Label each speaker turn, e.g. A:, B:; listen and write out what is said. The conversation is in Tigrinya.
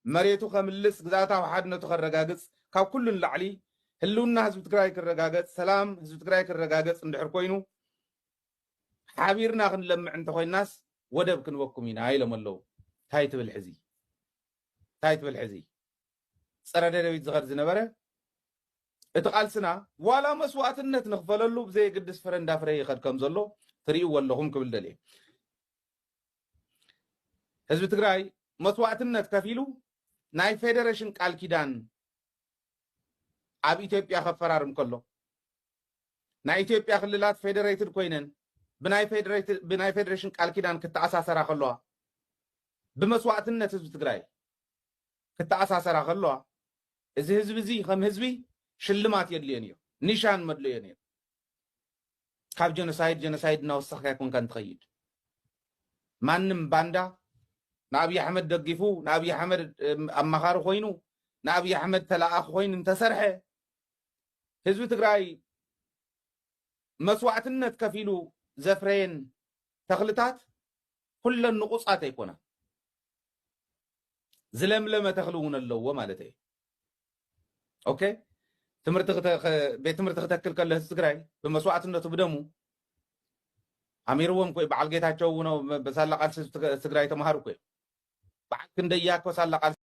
A: መሬቱ ከምልስ፣ ግዝኣታዊ ሓድነቱ ከረጋግፅ፣ ካብ ኩሉ ንላዕሊ ህልውና ህዝቢ ትግራይ ክረጋገፅ፣ ሰላም ህዝቢ ትግራይ ክረጋገፅ እንድሕር ኮይኑ ሓቢርና ክንለምዕ እንተኾይናስ ወደብ ክንበኩም ኢና ኢሎም ኣለው። ታይ ትብል ሕዚ ታይ ትብል ሕዚ ፀረ ደደቢት ዝኸድ ዝነበረ እቲ ቃልስና ዋላ መስዋእትነት ንኽፈለሉ ብዘየግድስ ፍረ እንዳፍረየ ይኸድ ከም ዘሎ ትሪእዎ ኣለኹም ክብል ደልየ። ህዝቢ ትግራይ መስዋእትነት ከፊሉ ናይ ፌደሬሽን ቃል ኪዳን ኣብ ኢትዮጵያ ከፈራርም ከሎ ናይ ኢትዮጵያ ክልላት ፌደሬትድ ኮይነን ብናይ ፌደሬሽን ቃል ኪዳን ክተኣሳሰራ ከለዋ ብመስዋእትነት ህዝቢ ትግራይ ክተኣሳሰራ ከለዋ እዚ ህዝቢ እዚ ከም ህዝቢ ሽልማት የድልዮን እዮ ኒሻን መድለዮን እዮ ካብ ጀኖሳይድ ጀኖሳይድ እናወሰኽካ ኣይኮንካ እንትኸይድ ማንም ባንዳ ንኣብዪ ኣሕመድ ደጊፉ ንኣብዪ ኣሕመድ ኣማኻሪ ኮይኑ ንኣብዪ ኣሕመድ ተላኣኺ ኮይኑ እንተሰርሐ ህዝቢ ትግራይ መስዋዕትነት ከፊሉ ዘፍረየን ተኽልታት ኩለን ንቑፃት ኣይኮና ዝለምለመ ተኽሊ እውን ኣለዎ ማለት እዩ ኦኬ ትምህርቲ ቤት ትምህርቲ ክተክል ከሎ ህዝቢ ትግራይ ብመስዋእትነቱ ብደሙ ኣሚርዎም ኮይ በዓል ጌታቸው እውን ብሳላ ቃልሲ ትግራይ ተምሃሩ ኮይ በዓል ክንደያ ኮ ሳላ ቃልሲ